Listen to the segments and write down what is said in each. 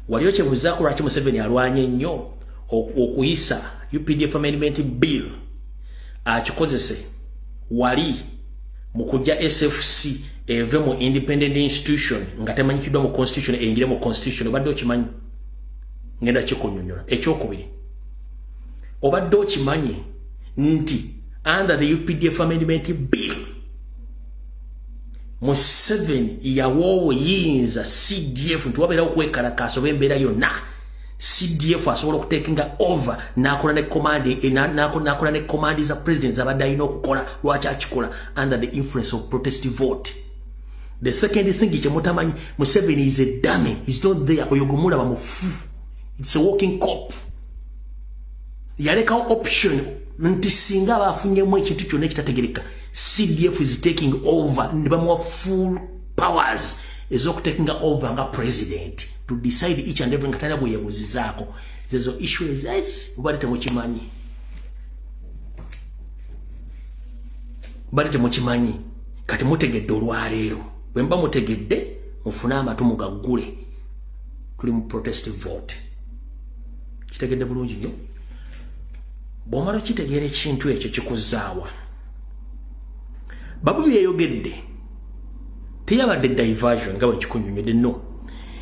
Waliyo kyebuzaako lwaki Museveni alwanye nnyo okuyisa UPDF Amendment Bill akikozese wali mu kujja SFC eve mu independent institution nga temanyikiddwa mu constitution eyingire mu constitution obadde okimanyi ngenda kikunyonyola ekyokubiri obadde okimanyi nti under the updf amendment bill museveni yawa obuyinza cdf nti wabeerawo okwekalakaasa oba embeera yonna cdf asobola okutekinga over nakola ne command eh, nakola ne command za president zabadde alina okukola lwaki akikola under the influence of protest vote the second thing kyemutamanyi museveni is a dame is not there oyo gwemulaba mufu it's a walking cop yalekawo option nti singa aba afunyemu ekintu kyonna ekitategereka cdf is taking over ne bamuwa full powers ezokutakinga over nga president to decide each and every nga talina gweyebuzizaako zezo issue ezes ubali temukimanyi bali temukimanyi kati mutegedde olwaleero bwe mba mutegedde mufune amatu mugaggule tuli mu protest vote kitegedde bulungi nyo bw'omala okitegeera ekintu ekyo kikuzzaawa babu byeyogedde teyabadde diversion nga bwekikunyonyode no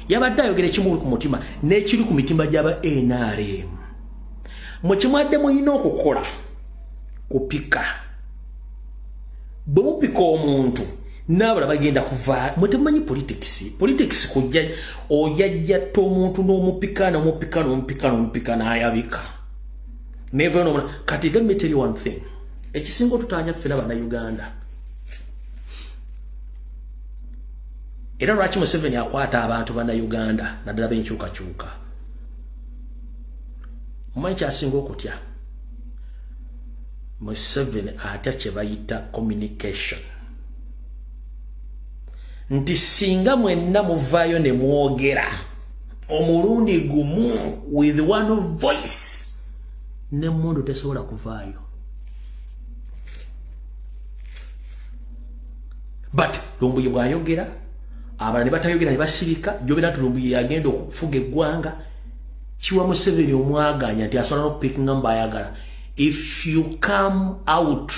yabadde ayogera ekimuli ku mutima n'ekiri ku mitima gy'aba nrm mwe kyemwadde mulina okukola kupika bwe mupika omuntu naabala bagenda kuva mwe temumanyi politics politics kujja ojajjatta omuntu n'omupika n'omupika n'omupika n'omupika n'ayabika Never know. Kati let me tell you one thing. Ekisingo tutanya fela bana Uganda. Era lwaki Museveni akwata abantu bana Uganda na dala benchuka chuka. Mmanyi kyasinga okutya. Museveni atya kye bayita communication. Nti singa mwenna muvaayo ne mwogera. omulundi gumu with one voice ne mundu tesobola kuvaayo but lumbuye bwayogera abala ne batayogera ne basirika jogera nti lumbuye yagenda okufuga eggwanga kiwa museveni omwaganya nti asobola n'okupikinga mu bayagala if you come out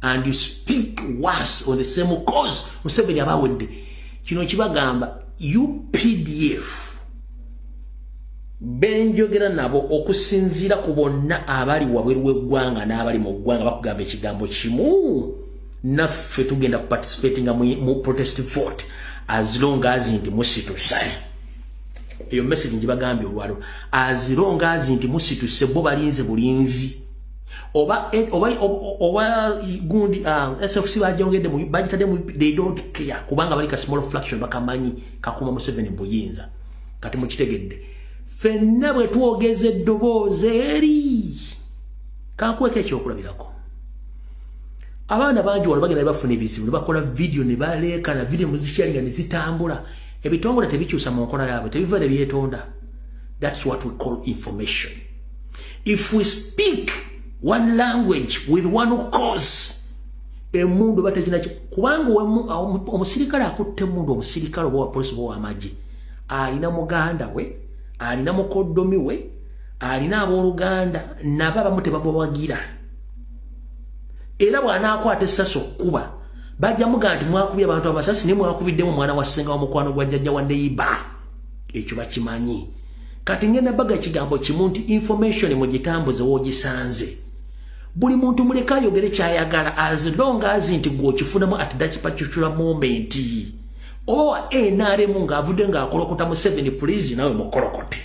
and you speak worse on the same cause museveni aba awedde kino kibagamba updf benjogera nabo okusinziira ku bonna abali wabweru w'eggwanga n'abali mu ggwanga bakugamba ekigambo kimu naffe tugenda kuparticipatinga mu protest vote as long as nti musituse eyo message ngibagambye olwalo as long as nti musituse bo balinze bulinzi oba eh, oba oba gundi ah, SFC bajongede mu bajitade mu they don't care kubanga bali ka small fraction bakamanyi kakuma mu 7 buyinza kati mu kitegedde fenna bwe tuogeze doboze eri kakweke ekyokulabirako abaana bangi wano bagenda bafuna ebizibu bakola video ne baleeka na video muzisharinga ne zitambula ebitongole tebikyusa mu nkola yaabwe tebiva ne byetonda that's what we call information if we speak one language with one cause emundu batakina kubanga omusirikale akutte emundu omusirikale oba wapolisi oba wamagye alina muganda we alina mukoddomi we alina abooluganda nabo abamu tebabawagira era bw'anaakwata essasi okukuba bajja muga nti mwakubye abantu amasasi naye mwakubiddemu omwana wa ssenga wa mukwano gwa jjajja wa neyiba ekyo bakimanyi kati ngenda baga kigambo kimu nti information mugitambuze wogisanze buli muntu muleka ayogere kyayagala as long as nti gwe okifunamu at that particular moment oba wa nrm ng'avudde ng'akolokota mu seven please nawe mukolokote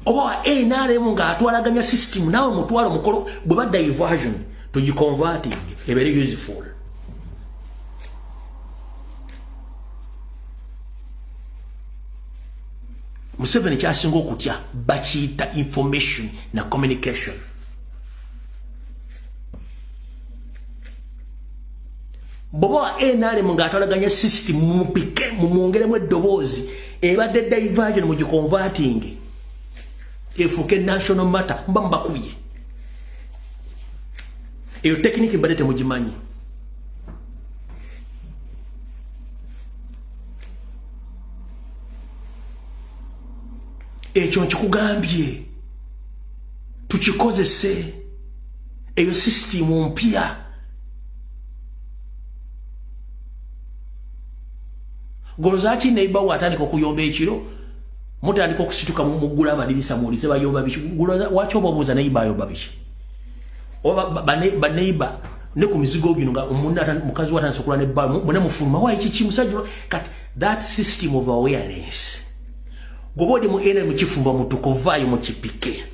oba wa nrm ng'atwalaganya system nawe mutwalo mukolo bwe ba diversion tugiconverting ebere useful museveni kyasinga okutya bakiyita information na communication bwoba wa nrm ng'atwalaganya system mumupike mumwongeremu eddoboozi ebadde diversion mu gikonvatingi efuuke national matter mba mubakubye eyo tekiniki mbadde temugimanyi ekyo nkikugambye tukikozese eyo sisitimu mpya golozaki neiba we atandika okuyomba ekiro mutandika okusituka mumuggula amadirisa muwulize bayomba biki waki obabuuza neiba ayomba biki oba baneiba ne ku mizigo gino nga omunna mukazi wa atandise okulwa ne bba mune mufuluma wayi kiki musajja kati that system of awareness goba odi mu ena mukifumba mutuko vaayo mukipike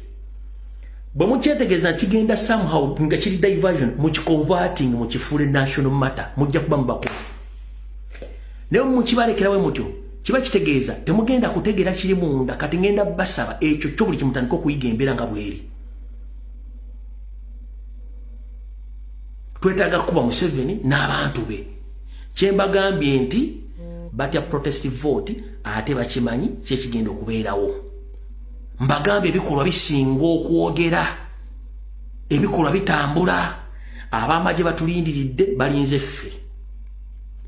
bwe mukyetegeeza kigenda somehow nga kiri diversion mukiconverting mukifuule national matter mujja kuba mubakulu naye mukibalekerawe mutyo kiba kitegeeza temugenda kutegeera kiri munda kati ngenda basaba ekyo kyo buli kimutandika okuyiga embeera nga bweri twetaaga kukuba museveni n'abantu be kyembagambye nti batya protest vote ate bakimanyi kyekigenda okubeerawo mbagambye ebikolwa bisinga okwogera ebikolwa bitambula abamagye batulindiridde balinze ffe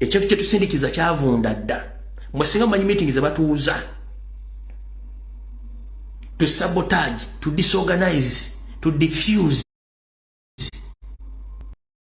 ekintu kyetusindikiza kyavunda dda mwesinga mumanyi meeting zebatuuza to sabotage to disorganize to diffuse